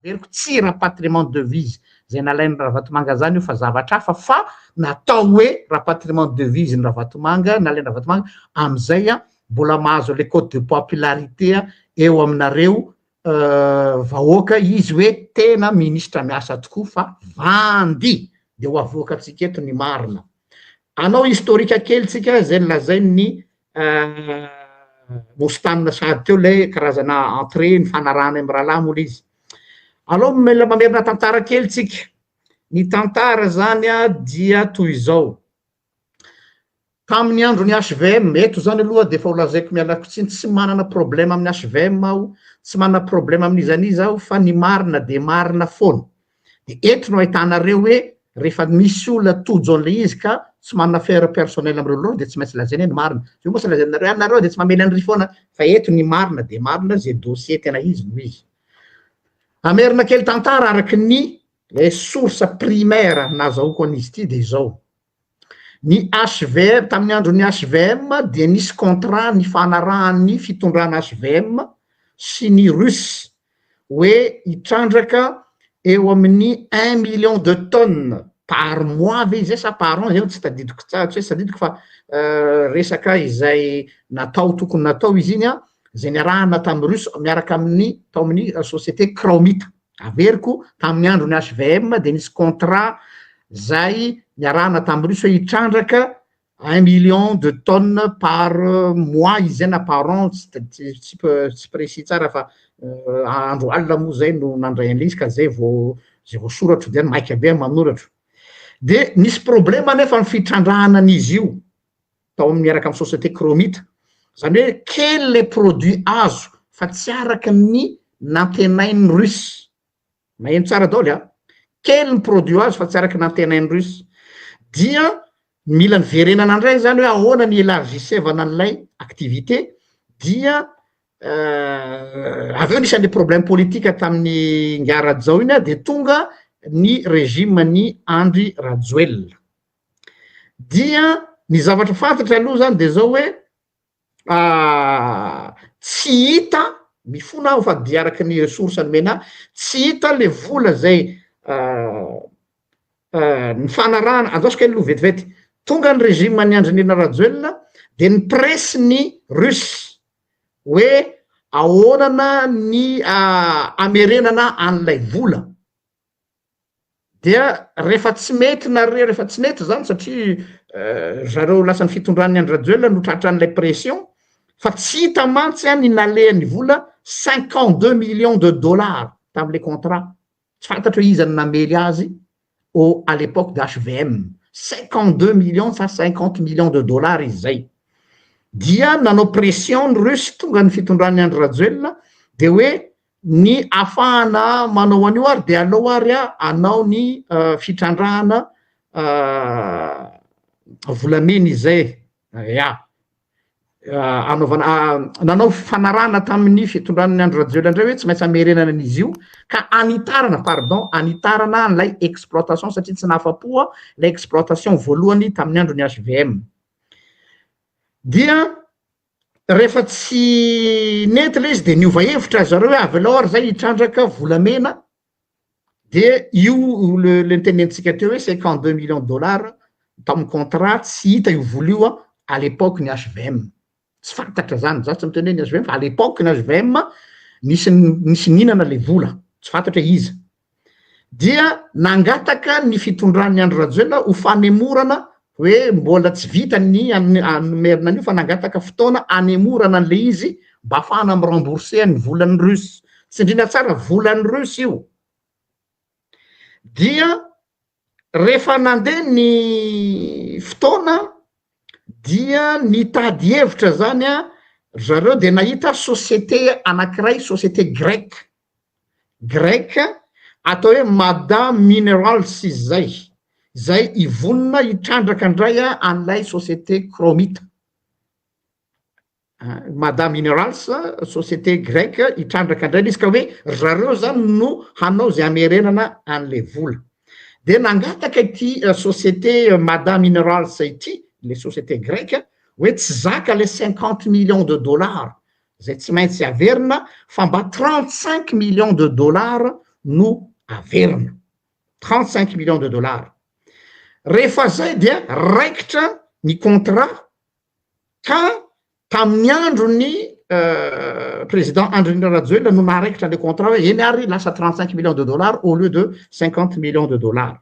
Heveriko tsy rapatriement de devise zay nalain'i Ravatomanga zany io fa zavatra hafa fa natao hoe rapatriement de devise ny Ravatomanga, nalain'i Ravatomanga, amizay a mbola mahazo le cote de popularité eo aminareo vahoaka izy hoe tena ministra miasa tokoa fa vandy! de ho avoakantsika eto ny marina. Anao historique kely tsika zay lazain'ny Bostane sahady teo ilay karazana entrée nifanarahana amin'ny rahalahy moa ilay izy. Alao mila mamerina tantara kely tsika. Ny tantara zany dia toy izao, tamin'ny andron'ny HVM, eto zany aloha dia efa ho lazaiko mialako tsiny, tsy manana problème amin'ny HVM aho, tsy manana problème amin'iza n'iza aho fa ny marina dia marina foana. de eto no ahitanareo hoe rehefa misy olona tojo an'ilay izy ka tsy manana affaire personnelle amin'ireo loha dia tsy maintsy lazaina hoe ny marina, zay moa tsy lazainareo, ary nareo dia tsy mamely an'irỳ foana fa eto ny marina dia marina zay dossier tena izy no izy. Hamerina kely tantara araka ny source primaire nazahoako an'izy ity dia izao, Ny HVM, tamin'ny andron'ny HVM dia nisy contrat nifanarahan'ny fitondrana HVM sy ny Russe hoe hitrandraka eo amin'ny un million de tonnes par mois ve izay sa par an izay no tsy tadidiko tsara, tsy hoe tsy tadidiko fa resaka izay natao tokony natao izy iny an, izay niarahana tamin'ny Russe miaraka amin'ny tao amin'ny société Kraomita. Averiko, tamin'ny andron'ny HVM dia nisy contrat zay niarahana tamin'ny russe hoe hitrandraka un million de tonnes par mois izy zay na par an, tsy précis tsara fa andro alina moa zay no nandray an'ilay izy ka zay vao zay vao soratro dia maika be aho manoratro. Dia nisy problème anefa ny fitrandrahana an'izy io. tao amin'ny miaraka amin'ny société Chromite. Izany hoe kely ilay produit azo fa tsy araka ny nantenain'ny Russe. Maheno tsara daholo a! Kely ny produit azo fa tsy araka ny nantenain'ny Russe. Dia mila niverenana indray izany hoe ahoana ny élargissevana an'ilay activité dia avy eo nisy an'ilay problème politique tamin'ny Ingahy Rajao iny dia tonga ny régime an'i Andry Rajoelina. dia ny zavatra fantatra aloha zany de zao hoe tsy hita mifona aho fa de araky ny source nomena ahy tsy hita le vola zay nifanarahana andrasoko aloha vetivety tonga ny regime an'i andrinirina rajoelina de ny presse ny russe hoe ahoana ny hamerenana an'ilay vola Dia rehefa tsy mety nareo rehefa tsy mety zany satria ry zareo lasan'ny fitondran'ny Andry Rajoelina no tratran'ilay pression fa tsy hita mantsy an ny nalehan'ny vola cinquante deux millions de dollars tamin'ilay contrat tsy fantatro hoe iza no namely azy au à l'époque d'HVM cinquante deux millions sa cinquante millions de dollars izy zay dia nanao pression ny Russes tonga ny fitondran'ny Andry Rajoelina dia hoe Ny afahana manao an'io ary dia aleo ary anao ny fitrandrahana volamena izay ya anaovana nanao fifanarahana tamin'ny fitondran'ny Andry Rajoelina indray hoe tsy maintsy hamerenana an'izy io ka hanitarana pardon hanitarana an'ilay exploitation satria tsy nahafapo aho ilay exploitation voalohany tamin'ny andron'ny HVM dia Rehefa tsy nety ilay izy dia niova hevitra ry zareo hoe avelao ary izay hitrandraka volamena, dia io le le nitenenintsika teo hoe cinquante deux millions dollars tamin'ny contrat tsy hita io vola io a à l'époque ny HVM, tsy fantatra izany, za tsy miteny hoe ny HVM fa à l'époque ny HVM nisy nisy nihinana ilay vola, tsy fantatra hoe iza, dia nangataka ny fitondran'i Andry Rajoelina ho fanemorana hoe mbola tsy vita ny nomerina an'io fa nangataka fotoana hanemorana an'ilay izy mba hahafahana mi-rembourser ny volan'ny Russes, tsindriana tsara, volan'ny Russes io dia Rehefa nandeha ny fotoana dia nitady hevitra zany ry zareo dia nahita société anankiray, société grecque, grecque, atao hoe Mada Minerals izy zay, zay hivonona hitrandraka indray an'ilay société Chromite. Mada Minerals, société grecque hitrandraka indray ilay izy ka hoe ry zareo izany no hanao izay hamerenana an'ilay vola. Dia nangataka ity société Mada Minerals ity, ilay société grecque, hoe tsy zaka ilay cinquante millions de dollars izay tsy maintsy averina fa mba trente cinq millions de dollars no averina. Trente cinq millions de dollars. Rehefa izay dia raikitra ny contrat ka tamin'ny andron'ny président Andry Rajoelina no naharaikitra ilay contrat hoe eny ary lasa trente cinq millions de dollars au lieu de cinquante millions de dollars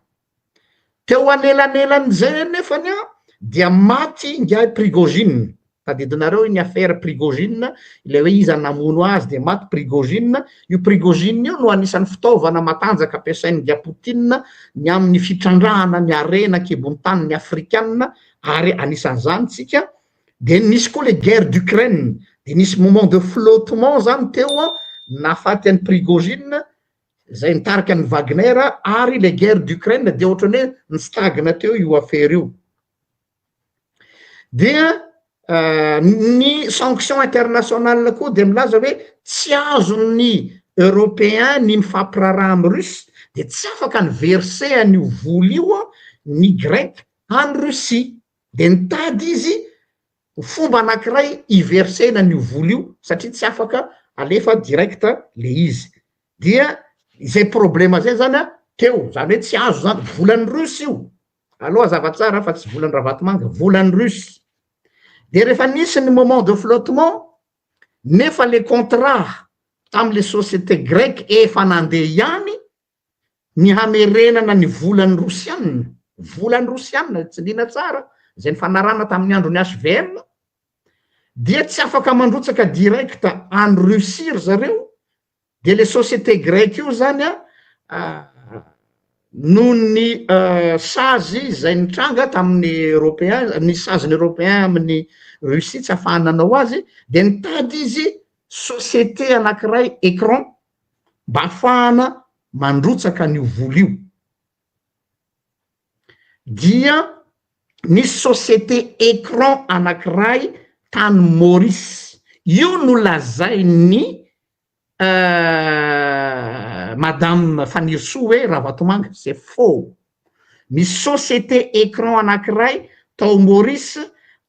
teo anelanelan'izay anefany an dia maty ingahy Prigogine tadidinareo iny affaire Prigogine ilay hoe iza namono azy dia maty Prigogine io Prigogine io no anisan'ny fitaovana matanjaka ampiasain'ingahy Poutine ny amin'ny fitrandrahana ny harena an-kibon'ny tanin'ny afrikana ary anisan'izany tsika de nisy koa le guerre d'Ukraine de nisy moment de flottement zany teo an nahafaty an'i Prigogine zay nitarika an'i Wagner ary le guerre d'Ukraine de ohatrany hoe nitsitagina teo io affaire io dia euh, ny sanction internationale koa de milaza hoe tsy azon'ny européen ny mifampiraraha amin'ny russe de tsy afaka ny verser an'io voly io ny grec Any Russie, dia nitady izy ho fomba anankiray hiversena an'io vola io satria tsy afaka alefa direct le izy. Dia izay problema izay zany teo, zany hoe tsy azo zany, volan'ny Russe io, allo hazava tsara fa tsy volan-dRavatomanga, volan'ny Russe. Dia rehefa nisy ny moment de flottement, nefa le contrat tamin'le société grecque efa nandeha ihany, ny hamerenana ny volan'ny Rosiana, volan'ny Rosiana, tsindriana tsara, izay nifanarahana tamin'ny andron'ny HVM, dia tsy afaka mandrotsaka direct any Russie ry zareo, dia ilay société grecque io izany noho ny sazy izay nitranga tamin'ny Européen, ny sazin'ny Européen amin'ny Russie tsy afahany nanao azy, dia nitady izy société anankiray, Ecran, mba hahafahana mandrotsaka an'io vola io dia nisy société écran anankiray tany Maurice, io no lazain'ny madame Fanirisoa hoe Ravatomanga, c'est faux, Misy société écran anankiray tao Maurice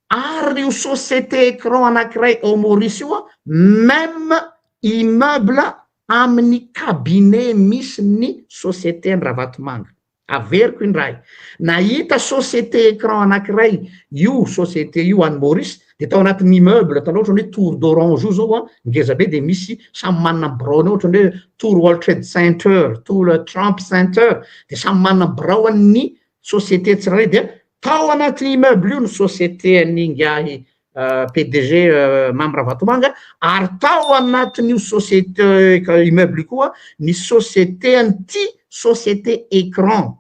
ary io société écran anankiray ao Maurice io même immeuble amin'ny cabinet misy ny société an'i Ravatomanga. Averiko indray, nahita société écran anankiray io société io any Maurice de tao anatin'ny immeuble atanao ohatrany hoe tour d'orange io zao a ngeza be de misy samy manana ny biraony ao ohatrany hoe tour world trade center tour trump center de samy manana ny birao an'ny société tsirairay dia tao anatin'ny immeuble io ny société an'ny ingahy euh, pdg euh, mamy ravatomanga ary tao anatin'io société euh, immeuble io koa ny société an'ity société écran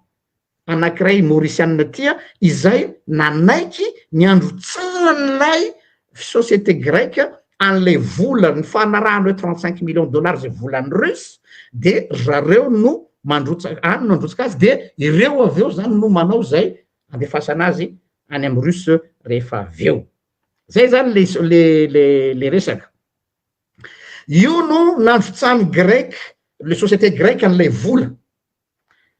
anankiray Maurisianina tia izay nanaiky ny handrotsahan'ilay société grecque an'ilay vola ny fanarahana hoe trente cinq millions dollars izay volan'ny Russe dia ry zareo no mandrotsa any no handrotsaka azy dia ireo avy eo izany no manao izay andefasana azy any amin'ny Russe rehefa avy eo. Zay zany le le le le resaka. Io no nandrotsan'ny grec, le société grecque an'ilay vola.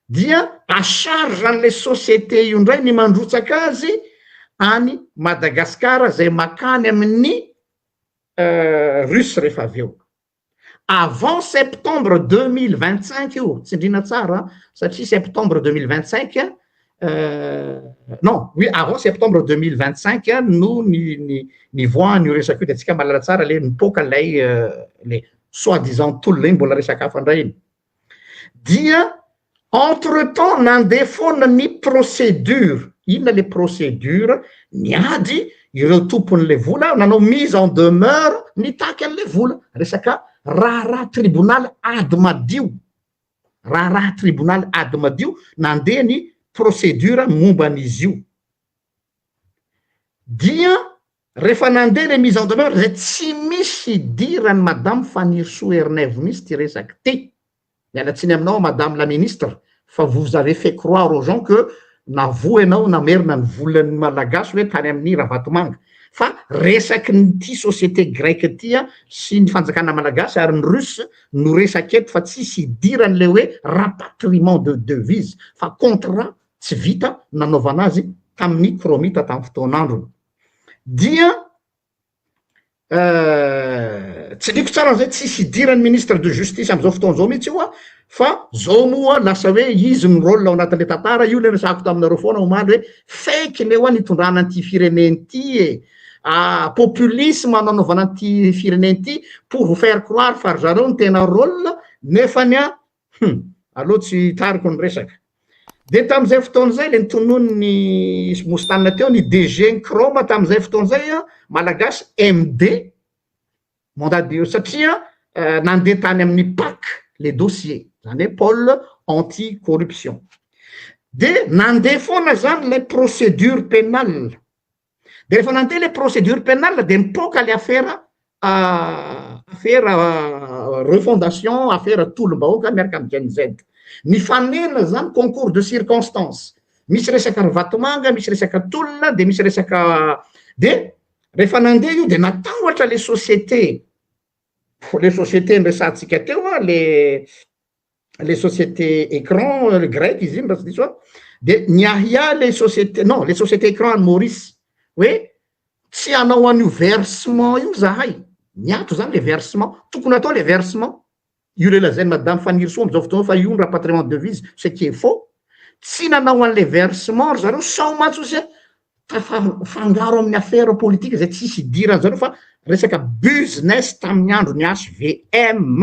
dia à charge an'ilay société io indray ny mandrotsaka azy any Madagascar izay makany amin'ny Russe rehefa avy eo. Avant septembre deux mille vingt cinq io, tsindriana tsara an, satria septembre deux mille vingt cinq non oui avant septembre deux mille vingt cinq no ny ny nivoahany io resaka io dia antsika mahalala tsara le nipoaka ilay le soi-disant tolona iny mbola resaka hafa indray iny. dia entre temps nandeha foana ny procédure, inona le procédure, niady ireo tompon'ilay vola, nanao mise en demeure nitaky an'ilay vola, resaka raharaha tribonaly ady madio, raharaha tribonaly ady madio nandeha ny procédure momba an'izy io, dia Refa nande le mise en demeure zay tsy misy idirany madame Fanirisoa Ernaivo mintsy ty resaky ty. Miala tsiny aminao madame la ministre fa vous avez fait croire aux gens que navoa ianao namerina ny volan'ny malagasy hoe tany amin'ny Ravatomanga. Fa resaky ny ty société grecque ty sy ny fanjakana malagasy ary ny russe no resaka eto fa tsisy idirany le hoe rapatriement de devise fa contrat tsy vita nanaovana azy tamin'ny Chromite tamin'ny fotoan'androny. dia Euh, tsy diko tsara an'izay tsisy hidiran'ny ministre de justice am'izao fotoana izao mihitsy io a fa zao moa lasa hoe izy ny rôle ao anatin'le tantara io le resako taminareo foana omaly hoe fake ny eo a nitondrana an'ity firenena ity e ah, populisme nanaovana an'ity firenena ity pour vous faire croire fa ry zareo ny tena rôle nefa ny a Hum! Aleo tsy hitariko ny resaka. Dia tamin'izay fotoana izay ilay notononin'i Moustane teo ny DG-n'ny Chrome tamin'izay fotoana izay an, Malagasy MD, mandat de satria nandeha tany amin'ny pac ilay dossier, izany hoe pôle anti corruption. Dia nandeha foana izany ilay procédure pénale. De rehefa nandeha le procédure pénale de nipoaka le afera afera refondation afera tolom-bahoaka miaraka am Gen Z. Nifanena zany concours de circonstance, misy resaka ry Vatomanga, misy resaka tolona de misy resaka de rehefa nandeha io de natahotra le société le société niresahantsika teo le le société écran le grec izy iny raha tsy diso aho de niahiahy le société non le société écran any Maurice hoe tsy hanao an'io versement io zahay niato zany le versement tokony atao le versement io le lazain'i madame Fanirisoa am'zao fotoana io fa io ny rapatriement de devise ce qui est faux tsy nanao an'le versement ry zareo sao mantsy hozy a tafangaro amin'ny afera politika izay tsy hisy idiran'ny zareo fa resaka business tamin'ny andron'ny HVM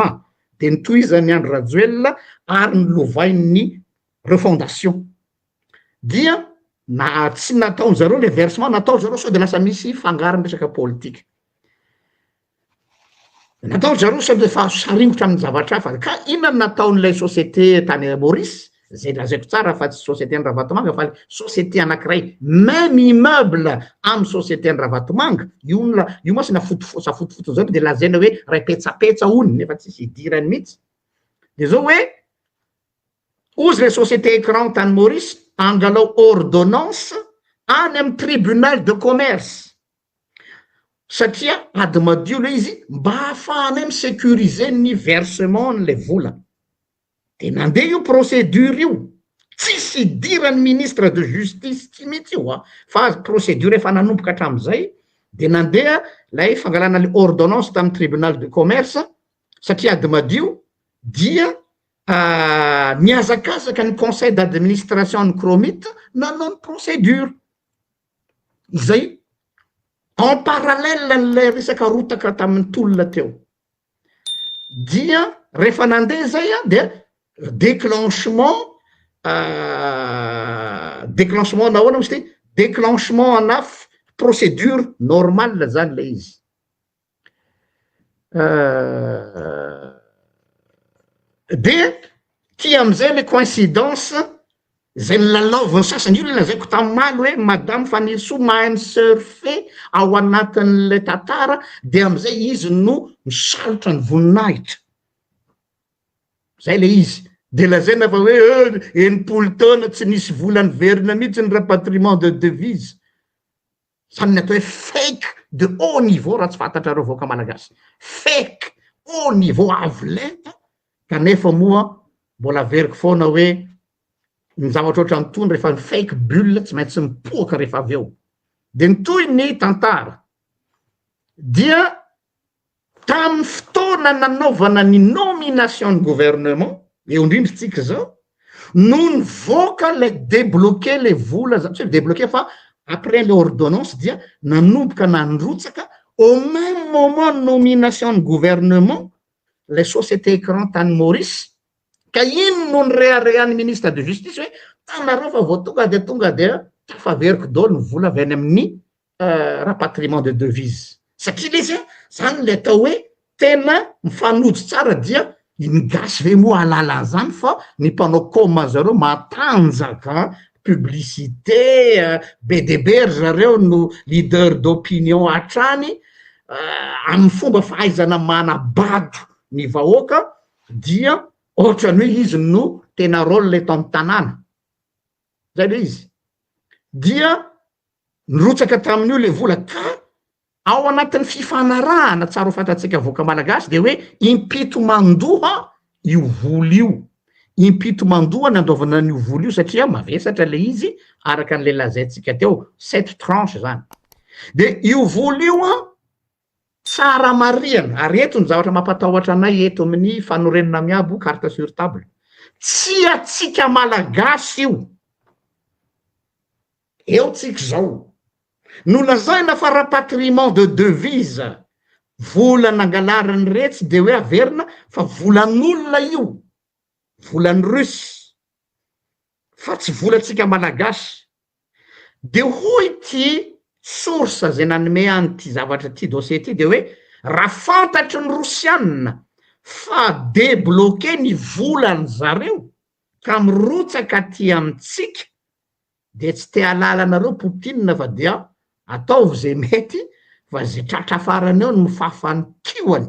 dia nitohizan'i Andry Rajoelina ary nolovain'ny refondation dia na tsy nataon'i zareo ilay versement nataon'i zareo sao dia lasa misy fangarony resaka politika. Natao ry zareo sao dia efa azo saringotra amin'ny zavatra hafa. Ka inona no nataon'ilay société tany Maurice? Izay lazaiko tsara fa tsy société-n'i Ravatomanga fa ilay société anankiray même immeuble amin'ny société-n'i Ravatomanga, io la- io mantsy na foto fo- sa fotofotony izao dia lazaina hoe iray petsapetsa hono nefa tsisy idirany mihitsy. Dia izao hoe, hozy ilay société écran tany Maurice, angalao ordonnance any amin'ny tribunal de commerce. satria ady madio le izy mba hahafahanay mi-securiser ny versement an'ilay vola de nandeha io procédure io tsisy idiran'ny ministre de justice ity mihitsy io an fa procédure efa nanomboka hatramin'izay de nandeha lay fangalana le ordonnance tamin'ny tribunal de commerce satria ady madio dia nihazakazaka ny conseil d'administration ny cromit nanao ny procédure Izay en parallèle an'ilay resaka rotaka tamin'ny tolona teo. Dia rehefa nandeha izay an, dia déclenchement déclenchement na ahoana moa izy ity, déclenchement ana procédure normale izany ilay izy. Euh, dia ty amizay le coincidence zay lalaoviny sasany io lazaiko tamimaly hoe madame fanirisoa mahay misurfe ao anatin'lay tantara dia amizay izy no misalotra ny voninahitra zay le izy de lazaina fa hoe eh, enimpolo taona tsy nisy vola niverina mihitsy ny rapatriement de devise Zany ny atao hoe fake de haut niveau raha tsy fantatrareo vahoaka malagasy. Fake haut niveau avo lenta kanefa moa mbola averiko foana hoe ny zavatra ohatran' tony rehefa ny fake bulle tsy maintsy mipoaka rehefa avy eo. De ny tohiny tantara dia Tamin'ny fotoana nanaovana ny nomination ny gouvernement, eo indrindra isika izao, no nivoaka ilay debloquer ilay vola zany, tsy hoe debloquer fa après ilay ordonnance dia nanomboka nandrotsaka au meme moment nomination ny gouvernement ilay société écran tany Maurice, ka iny no nireharehan'ny ministre de justice hoe, hitanareo fa vao tonga dia tonga dia tafaveriko daholo ny vola avy any amin'ny rapatriement de devise satria lesy a zany le atao hoe tena mifanojo tsara dia ny gasy ve moa ahalala an'zany fa ny mpanao com an zareo matanjaka an publicite an be de be ry zareo no leader d'opinion hatrany amin'ny fomba fahaizana manabado ny vahoaka dia ohatrany hoe izy no tena role eto amin'ny tanàna. zay le izy dia nirotsaka tamin'io le vola ka ao anatin'ny fifanarahana tsara ho fantatsika vahoaka malagasy de hoe impito mandoha io vola io impito mandoha ny andoavana an'io vola io satria mavesatra le izy araka an'le lazaintsika teo sept tranche zany de io vola io an Tsara marihana, ary eto ny zavatra mampatahotra anay eto amin'ny fanorenana miabo carte sur table, tsy antsika Malagasy io, eo tsika izao, no lazaina fa rapatriement de devise, vola nangalarin'iretsy dia hoe averina fa volan'olona io, volan'ny Russe. fa tsy volantsika malagasy. De hoy ity source zay nanome an'ity zavatra ity dossier ity de hoe raha fantatry ny rosianina fa debloquer ny volan zareo ka mirotsaka aty amintsika de tsy te alala anareo poutine fa dia ataovy zay mety fa zay tratra farany eo no fafan'ny kioany.